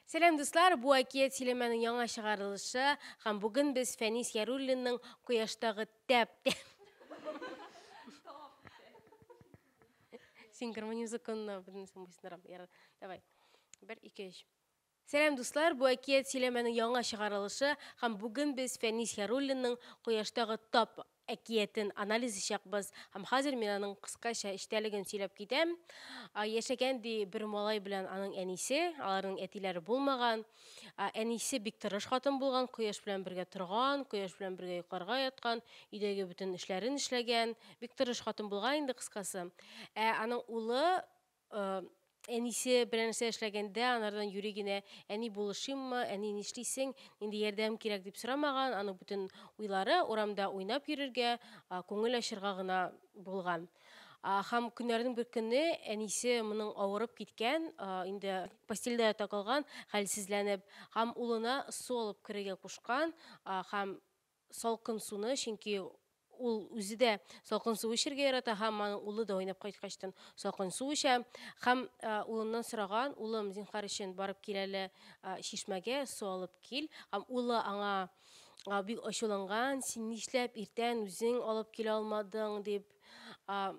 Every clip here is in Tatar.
Сәлам, дуслар! Бу әкият сөйләмәнең яңа чыгарылышы һәм бүген без Фәнис Яруллинның Кояштагы тәп Синхронизм законына бөтенесен буйсындырам. Ярар, давай. Бер, ике, өч. Сәлам дуслар, бу әкият сөйләмәнең яңа чыгарылышы һәм бүген без Фәнис Яруллинның Кояштагы тап әкиятен анализ ичәкбыз һәм хәзер мин аның кыскача эчтәлеген сөйләп китәм. А, Яшәгән ди бер малай белән аның әнисе, аларның әтиләре булмаган. А, Әнисе бик тырыш хатын булган, кояш белән бергә торган, кояш белән бергә йокларга яткан, өйдәге бөтен эшләрен эшләгән, бик тырыш хатын булган инде кыскасы. Ә аның улы Әнисе белән нәрсә эшләгәндә, анардан юри генә әни булышыйммы, әни нишлисең, нинди ярдәм кирәк дип сорамаган, аның бөтен уйлары урамда уйнап йөрергә, күңел ачырга гына булган. Һәм көннәрнең бер көне әнисе моның авырып киткән, инде постельдә ята калган, хәлсезләнеп, һәм улына су алып керергә кушкан һәм салкын суны, чөнки ул үзе дә салкын су эчәргә ярата һәм аның улы да уйнап кайткачтан салкын су эчә. Һәм э, улыннан сораган, улым, зинхар өчен барып кил әле э, чишмәгә, су алып кил. Һәм улы аңа э, бик ачуланган, син нишләп иртән үзең алып килә алмадың, дип. Э,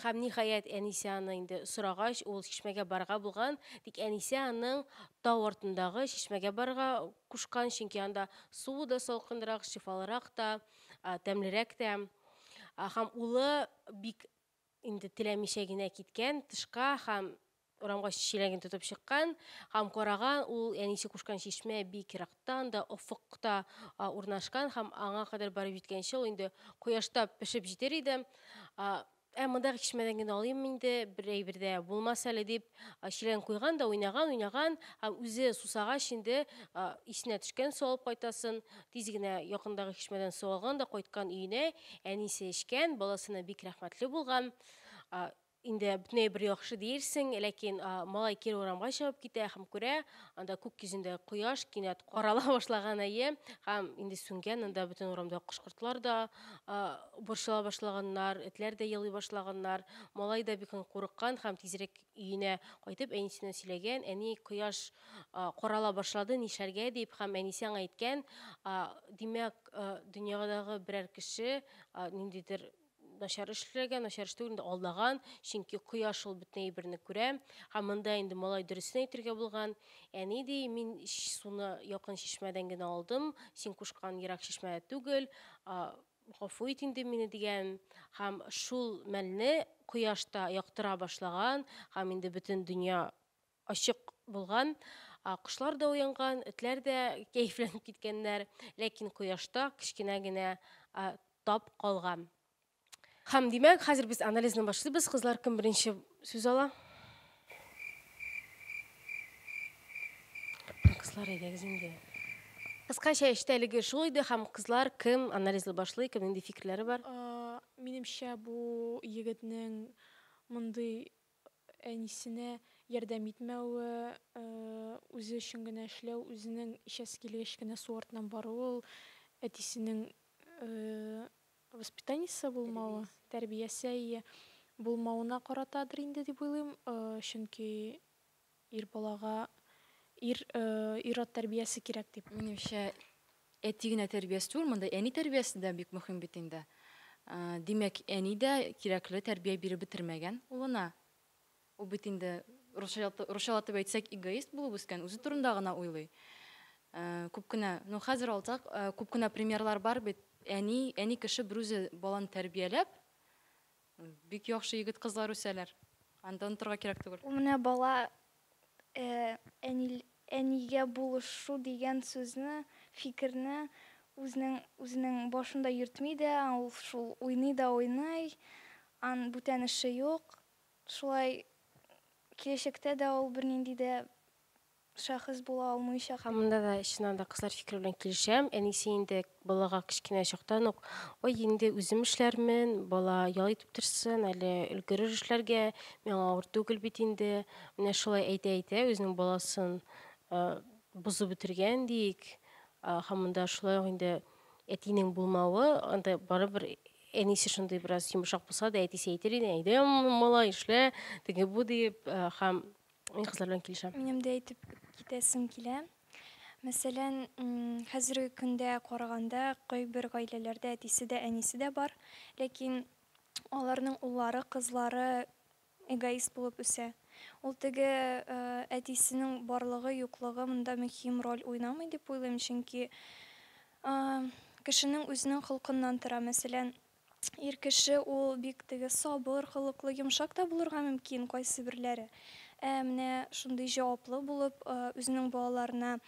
Һәм, ниһаять, әнисе аны инде сорагач, ул чишмәгә барырга булган, тик әнисе аның тау артындагы чишмәгә барырга кушкан, чөнки анда суы да салкынрак, шифалырак та, тәмлерәк тә. Һәм улы бик инде теләмичә генә киткән тышка һәм Урамга чиләген тотып чыккан һәм караган ул әнисе кушкан чишмә бик ерактан да, офыкта урнашкан һәм аңа кадәр барып җиткәнче ул инде кояшта пешеп җитер иде. Ә мондагы чишмәдән генә алыйм инде, бер әйбер дә булмас әле дип, чиләген куйган да уйнаган, уйнаган һәм үзе сусагач инде исенә төшкән су алып кайтасын. Тиз генә якындагы чишмәдән су алган да кайткан өенә, әнисе эчкән, баласына бик рәхмәтле булган. Инде бөтенләй бер яхшы диерсең, ләкин малай кире урамга чыгып китә һәм күрә, анда күк йөзендә кояш кинәт карала башлаган, әйе, һәм инде сүнгән, анда бөтен урамда кош-кортлар да борчыла башлаганнар, этләр дә елый башлаганнар. Малай да бик курыккан һәм тизрәк өенә кайтып, әнисенә сөйләгән, әни, кояш карала башлады, нишләргә дип, һәм әнисе аңа әйткән, димәк, дөньядагы берәр кеше ниндидер начар эшләгән, начар эш түгел, алдаган, чөнки кояш ул бөтен әйберне күрә. Һәм монда инде малай дөресен әйтергә булган. Әни ди, мин суны якын чишмәдән генә алдым, син кушкан ерак чишмә түгел, гафу ит инде мине дигән. Һәм шул мәлне кояш та яктыра башлаган, һәм инде бөтен дөнья Ачык булган, кошлар да уянган, этләр дә кәефләнеп киткәннәр, ләкин кояшта кечкенә генә тап калган. Һәм, димәк, хәзер без анализны башлыйбыз, кызлар, кем беренче сүз ала? Кызлар, әйдәгез инде. Кыскача эчтәлеге шул иде һәм кызлар кем анализлы башлый, кем нинди фикерләре бар? Минемчә, бу егетнең мондый әнисенә ярдәм итмәве, үзе өчен генә эшләү, үзенең эчәсе килгәч кенә су артыннан баруы ул әтисенең воспитаниесе булмавы, тәрбиясе, әйе, булмавына каратадыр инде дип уйлыйм, чөнки Ир балага ир, ир-ат тәрбиясе кирәк дип. Минемчә, әти генә тәрбиясе түгел, монда әни тәрбиясе дә бик мөһим бит инде. Димәк, әни дә кирәкле тәрбия биреп бетермәгән улына. Ул бит инде, русчалатып әйтсәк, эгоист булып үскән, үзе турында гына уйлый. Күп кенә, ну хәзер алсак, күп кенә примерлар бар бит, әни, әни кеше берүзе баланы тәрбияләп, Бик яхшы егет кызлар үсәләр. Анда онытырга кирәк түгел. Ул менә бала әнигә булышу дигән сүзне, фикерне үзенең үзенең башында йөртми дә, ул шул уйный да уйный, ан бүтән эше юк. Шулай киләчәктә дә ул бернинди дә шәхес була алмыйча. Һәм монда да, чыннан да, кызлар фикере белән килешәм. Әнисе инде балага кечкенә чактан ук, Ой, инде үзем эшләрмен, бала ял итеп торсын, әле өлгерер эшләргә, миңа авыр түгел бит инде. Менә шулай әйтә-әйтә, үзенең баласын бозып бетергән диик. Һәм монда шулай ук инде әтинең булмавы, анда барыбер әнисе шундый бераз йомшак булса да, әтисе әйтер иде, әйдә, малай, эшлә, теге-бу диеп, һәм Мин кызлар белән килешәм. Минем дә әйтеп китәсем килә. Мәсәлән, хәзерге көндә караганда, кайбер гаиләләрдә әтисе дә, әнисе дә бар, ләкин аларның уллары, кызлары эгоист булып үсә. Ул теге әтисенең барлыгы, юклыгы монда мөһим роль уйнамый дип уйлыйм, чөнки кешенең үзенең холкыннан тора. Мәсәлән, Ир кеше ул бик теге сабыр холыклы, йомшак та булырга мөмкин кайсыберләре. Ә менә шундый җаваплы булып, үзенең балаларына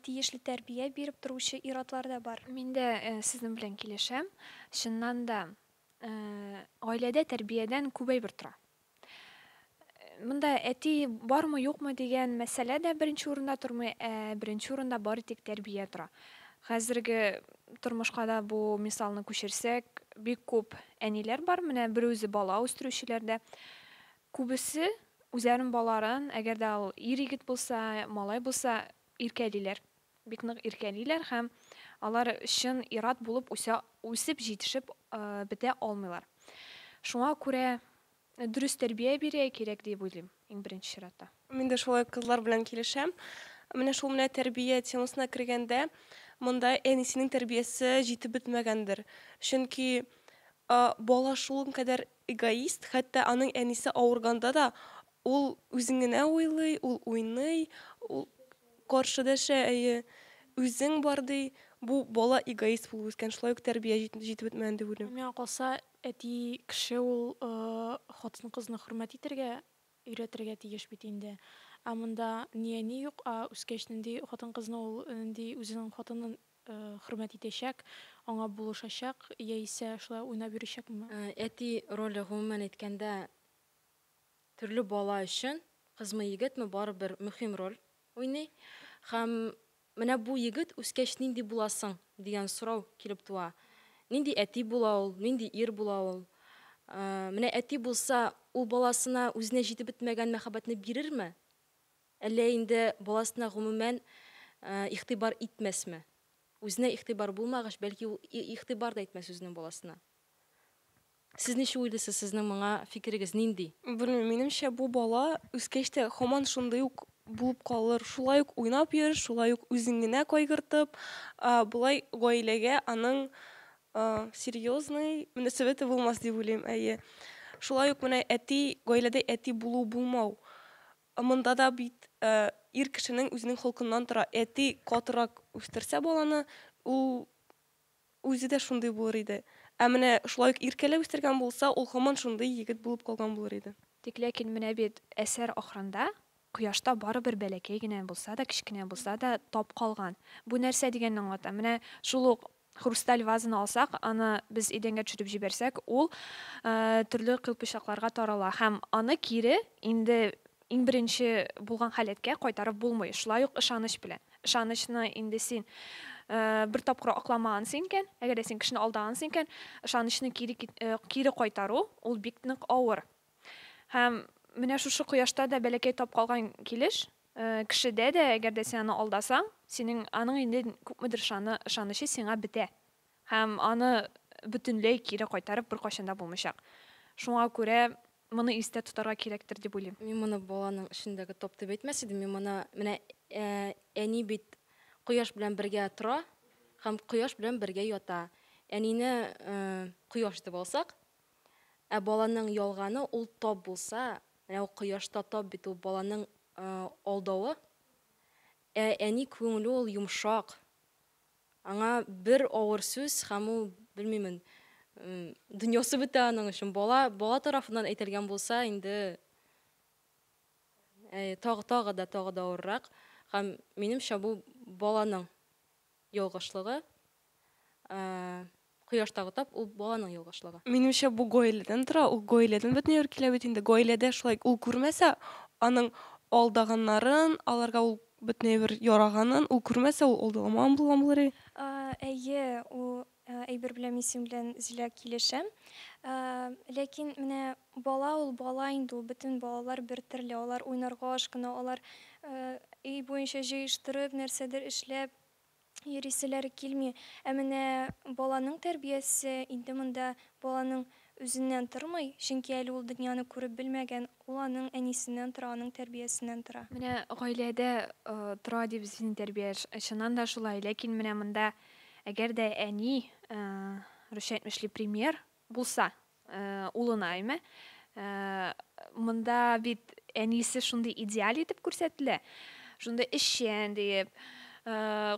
тиешле тәрбия биреп торучы ир-атлар да бар. Мин дә сезнең белән килешәм. Чыннан да, гаиләдә тәрбиядән күп әйбер тора. Монда әти бармы, юкмы дигән мәсьәлә дә беренче урында тормый, ә беренче урында бары тик тәрбия тора. Хәзерге тормышка да бу мисалны күчерсәк, бик күп әниләр бар, менә бер үзе бала үстерүчеләр дә. Күбесе үзләрен баларын, әгәр дә ул ир-егет булса, малай булса, иркәлиләр. бик нык иркәлиләр һәм алар чын ир-ат булып үсә, үсеп җитешеп бетә алмыйлар. Шуңа күрә дөрес тәрбия бирә кирәк дип уйлыйм, иң беренче чиратта. Мин дә шулай кызлар белән килешәм. Менә шул менә тәрбия темасына кергәндә, монда әнисенең тәрбиясе җитеп бетмәгәндер. Чөнки бала шул кадәр эгоист, хәтта аның әнисе авырганда да, Ул үзен генә уйлый, ул уйный, ул каршы дәшә, әйе, үзең бар ди. Бу бала эгоист булып үскән, шулай ук тәрбия җитеп бетмәгән дип уйлыйм. Миңа калса, әти кеше ул хатын-кызны хөрмәт итәргә өйрәтергә тиеш бит инде. Ә монда ни әни юк, ә үскәч нинди хатын-кызны ул, нинди үзенең хатынын хөрмәт итәчәк, аңа булышачак, яисә шулай уйнап йөрячәкме? Әти роле, гомумән әйткәндә, Төрле бала өчен, кызмы, егетме, барыбер мөһим роль уйный. Һәм менә бу егет үскәч нинди буласың? дигән сорау килеп туа. Нинди әти була ул, нинди ир була ул? Менә әти булса, ул баласына үзенә җитеп бетмәгән мәхәббәтне бирерме? Әллә инде баласына гомумән игътибар итмәсме? Үзенә игътибар булмагач, бәлки ул игътибар да итмәс үзенең баласына. Сез ничек уйлыйсыз, сезнең моңа фикерегез нинди? Белмим, минемчә бу бала үскәч тә хаман шундый ук булып калыр, шулай ук уйнап йөр, шулай ук үзең генә кайгыртып, болай гаиләгә аның серьезный мөнәсәбәте булмас дип уйлыйм, әйе. Шулай ук менә әти, гаиләдә әти булу, булмау, монда да бит ир кешенең үзенең холкыннан тора, әти катырак үстерсә баланы, ул Үзе дә шундый булыр иде. Ә менә шулай ук Иркәле үстергән булса, ул һаман шундый егет булып калган булыр иде. Тик ләкин менә бит әсәр ахырында кояшта барыбер бәләкәй генә булса да, кечкенә булса да тап калган. Бу нәрсә дигәнне аңлата? Менә шул ук хрусталь вазаны алсак, аны без идәнгә төшереп җибәрсәк, ул төрле кыйпычакларга тарала һәм аны кире инде Иң беренче булган халәткә кайтарып булмый, шулай ук ышаныч белән. Ышанычны инде син бер тапкыр акламагансың икән, әгәр дә син кешене алдагансың икән, ышанычны кире кире кайтару, ул бик нык авыр. Һәм менә шушы кояшта да бәләкәй тап калган килеш, кешедә дә, әгәр дә син аны алдасаң, синең аның инде күпмедер ышаны, ышанычы сиңа бетә. Һәм аны бөтенләй кире кайтарып беркайчан да булмыйчак. Шуңа күрә моны истә тотарга кирәктер дип уйлыйм. Мин моны баланың эчендәге топ дип әйтмәс идем, мин моны менә әни бит кояш белән бергә тора һәм кояш белән бергә ята. Әнине кояш дип алсак, ә баланың ялганы ул топ булса, менә ул кояш та топ бит, ул баланың алдавы. Ә әни күңеле ул йомшак, Аңа бер авыр сүз, һәм ул, белмимен, дөньясы бетә аның өчен. Бала, бала тарафыннан әйтелгән булса, инде тагы, тагы да, тагы да авыррак. Һәм минемчә, бу баланың ялгышлыгы. Кояштагы тап ул баланың ялгышлыгы. Минемчә бу гаиләдән тора, ул гаиләдән бөтен йорт килә бит инде, гаиләдә шулай ул күрмәсә аның алдаганнарын, аларга ул бөтен әйбер яраганын ул күрмәсә ул алдагамаган булган булыр и. Әйе, ул әйбер белән мин синең белән Зилә килешәм. Ләкин менә бала ул бала инде ул бөтен балалар бер төрле алар уйнарга ашкына алар өй буенча җыештырып нәрсәдер эшләп йөриселәре килми. Ә менә баланың тәрбиясе инде монда баланың үзеннән тормый, чөнки әле ул дөньяны күреп белмәгән, ул аның әнисеннән тора, аның тәрбиясеннән тора. Менә гаиләдә тора ди без сине тәрбия, чыннан да шулай, ләкин менә монда әгәр дә әни, русча әйтмешли, пример булса, Улына име? Монда бит әнисе шундый идеаль итеп күрсәтелә. Шундый эшчән диеп,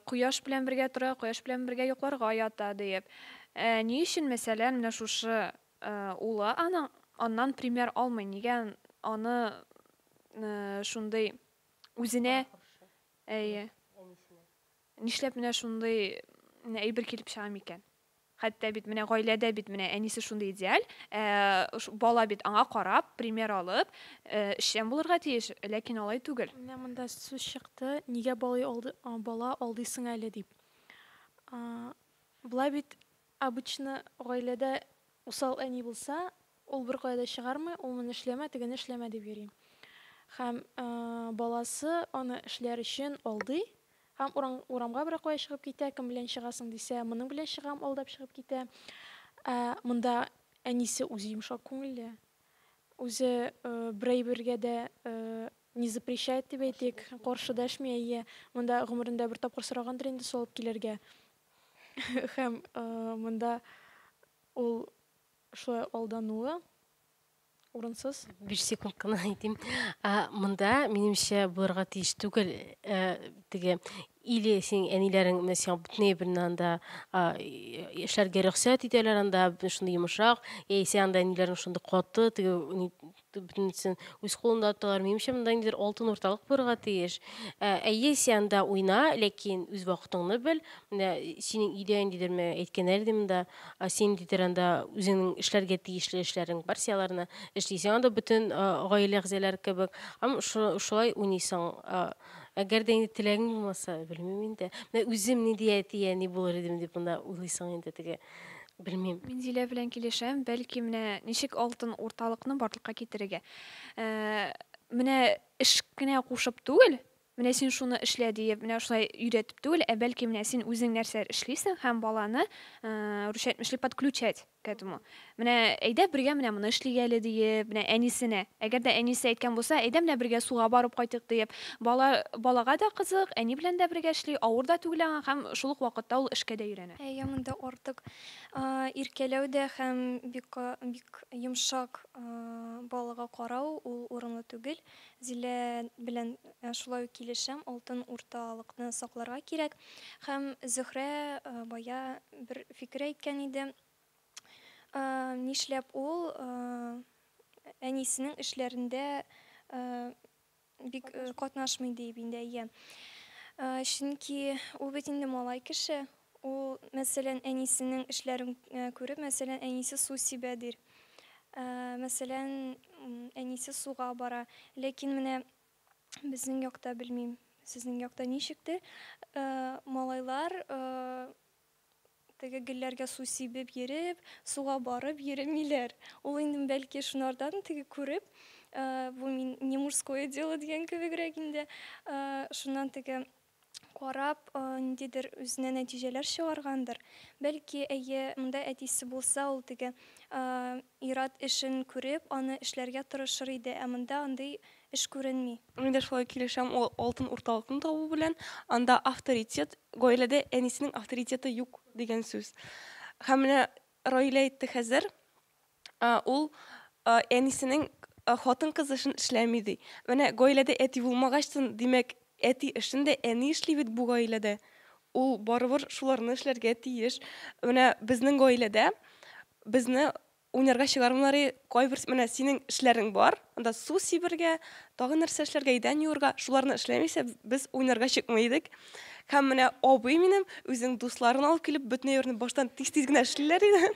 кояш белән бергә тора, кояш белән бергә йокларга ята диеп. Ә ни өчен, мәсәлән, менә шушы улы аның аннан пример алмый? Нигә аны шундый үзенә Әйе. Нишләп менә шундый әйбер килеп чыга микән? Хәтта бит менә гаиләдә бит менә әнисе шундый идеаль, ә бала бит аңа карап, пример алып, эшчән булырга тиеш, ләкин алай түгел. Менә монда сүз чыкты, нигә балый алды, бала алдыйсың әле дип. Болай бит обычно гаиләдә усал әни булса, ул беркая да чыгармый, ул моны эшләмә, тегене эшләмә дип йөри. Һәм баласы аны эшләр өчен алдый, Һәм урам, урамга берәр кая чыгып китә, кем белән чыгасың, дисә, моның белән чыгам, алдап чыгып китә. Ә монда әнисе үзе йомшак күңелле. Үзе э, бер әйбергә дә э, не запрещает дип әйтик, каршы дәшми, әйе. Монда гомерендә бер тапкыр сорагандыр инде салып килергә. Һәм э, монда ул шулай алдануы Урынсыз. Биш секунд кына әйтим. А, монда, минемчә, булырга тиеш түгел, ә, теге, или синең әниләрең менә сиңа бөтенләй белмә анда а, и- эшләргә рөхсәт итәләр анда, бөтен шундый йомшак, яисә анда әниләрең шундый каты, теге, ни- бөтенесен үз кулында тоталар. Минемчә, монда ниндидер алтын урталык булырга тиеш. Ә, Әйе, син анда уйна, ләкин үз вакытыңны бел. Менә синең өйдә ниндидер менә әйткәннәр иде монда, Ә син дидер анда үзеңнең эшләргә тиешле эшләрең бар, син аларны эшлисең. Анда бөтен гаилә әгъзалары кебек. Һәм шулай уйныйсың. Әгәр дә инде теләгең булмаса, белмим инде. Менә үзем нинди әти, әни булыр идем дип монда уйлыйсың инде теге. Белмим. Мин Зилә белән килешәм. Бәлки менә ничек алтын урталыкны барлыкка китерергә. Менә эш кенә кушып түгел, Менә син шуны эшлә диеп, менә шулай өйрәтеп түгел, ә бәлки менә син үзең нәрсәләр эшлисең һәм баланы ручать мешли подключать к этому. Менә әйдә бергә менә моны эшлик әле диеп, менә әнисенә. Әгәр дә әнисе әйткән булса, әйдә менә бергә суга барып кайтыйк диеп, бала балага да кызык, әни белән дә бергә эшли, авыр да түгел аңа һәм шул ук вакытта ул эшкә дә өйрәнә. Әйе, монда артык иркәләү дә һәм бик бик йомшак балага карау ул урынлы түгел. Зилә белән шулай ук килешәм, алтын урталыкны сакларга кирәк. Һәм Зөһрә бая бер фикер әйткән иде. Нишләп ул әнисенең эшләрендә бик катнашмый дип инде, әйе. Чөнки ул бит инде малай кеше, Ул, мәсәлән, әнисенең эшләрен күреп, мәсәлән, әнисе су сибә, дир. Мәсәлән, әнисе суга бара. Ләкин менә безнең якта, белмим, сезнең якта ничектер, малайлар теге гөлләргә су сибеп йөреп, суга барып йөремиләр. Ул инде, бәлки, шунардан теге күреп, бу мин не мужское дело дигән кебегрәк инде, шуннан теге карап, ниндидер үзенә нәтиҗәләр чыгаргандыр. Бәлки, әйе, монда әтисе булса, ул теге ир-ат эшен күреп, аны эшләргә тырышыр иде, ә монда андый эш күренми. Мин дә шулай килешәм ул алтын урталыкны табу белән. Анда авторитет, гаиләдә әнисенең авторитеты юк дигән сүз. Һәм менә Раилә әйтте хәзер, Ул әнисенең хатын-кыз эшен эшләми ди. Менә гаиләдә әти булмагачтын, димәк, әти эшен дә әни эшли бит бу гаиләдә. Ул барыбер шуларны эшләргә тиеш. Менә безнең гаиләдә безне уйнарга чыгармыйлар, кайбер менә синең эшләрең бар, анда су сибергә, тагын нәрсә эшләргә, идән юырга, шуларны эшләмисә, без уйнарга чыкмый идек. Һәм менә абый минем үзенең дусларын алып килеп, бөтен йортны баштан тиз-тиз генә эшлиләр иде.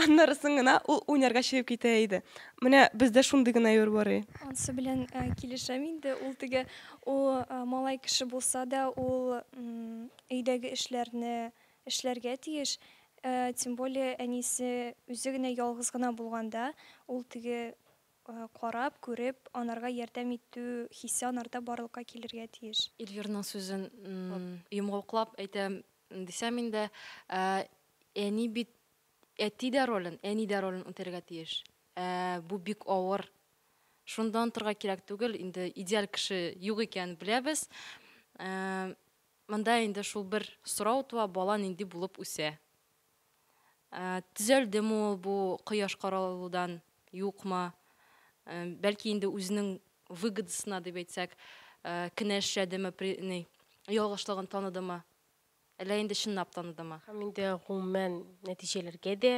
Аннарысын гына ул уйнарга чыгып китә иде. Менә бездә шундый гына йөр бар и. Ансы белән э, килешәм инде. Ул теге ул э, малай кеше булса да, ул м, өйдәге эшләрне эшләргә тиеш. Э, Тем более әнисе үзе генә ялгыз гына булганда, ул теге Карап, күреп, анарга ярдәм итү хисе анарда барлыкка килергә тиеш. Эльвирның сүзен йомгаклап әйтәм дисәм инде, әни бит әти дә ролен, әни дә ролен үтәргә тиеш. Ә бу бик авыр. Шунда онтырга кирәк түгел, инде идеаль кеше юк икәнен беләбез. Монда инде шул бер сорау туа, бала нинди булып үсә? Ә, төзәлдеме ул бу кояш каралудан, юкмы? Ә, бәлки инде үзенең выгодасына дип әйтсәк, ә, кенә эшләдеме, при, ни, ялгышлыгын таныдымы? Әллә инде чынлап таныдымы? Һәм инде гомумән нәтиҗәләргә дә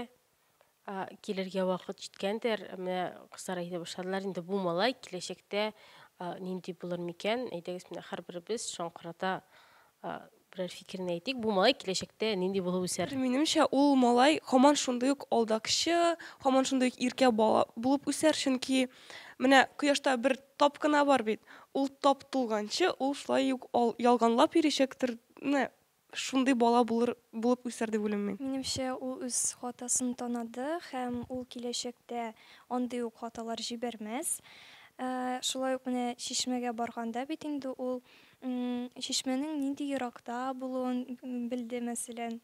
а, килергә вакыт җиткәндер. Менә кызлар әйтә башладылар, инде бу малай киләчәктә а, нинди булыр микән? Әйдәгез, менә һәрберебез шаңкырата а, Берәр фикерен әйтик, бу малай киләчәктә нинди булып үсәр? Минемчә, ул малай һаман шундый ук алдакчы, һаман шундый ук иркә бала булып үсәр, чөнки менә кояшта бер тап кына бар бит, ул тап тулганчы, ул шулай ук ялганлап йөричәктер, менә шундый бала булыр, булып үсәр дип уйлыйм мин. Минемчә, ул үз хатасын танады һәм ул киләчәктә андый ук хаталар җибәрмәс. Шулай ук менә чишмәгә барганда бит инде ул Чишмәнең нинди еракта булуын белде, мәсәлән.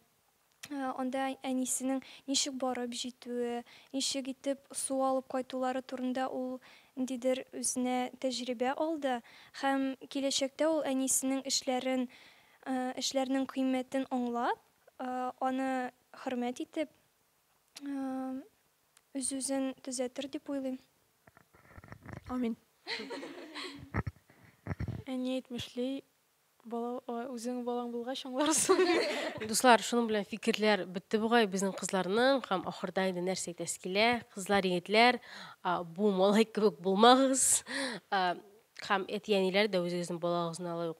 Анда әнисенең ничек барып җитүе, ничек итеп су алып кайтулары турында ул ниндидер үзенә тәҗрибә алды һәм киләчәктә ул әнисенең эшләрен, эшләрнең кыйммәтен аңлап, аны хөрмәт итеп, Үз-үзен төзәтер дип уйлыйм. Амин. Әни әйтмешли, бала, ой, үзең балаң булгач аңларсың. Дуслар, шуның белән фикерләр бетте бугай безнең кызларның һәм ахырда инде нәрсә әйтәсе килә? Кызлар, егетләр, а, бу малай кебек булмагыз. А, Һәм әти-әниләр дә үзегезнең балагызны алай ук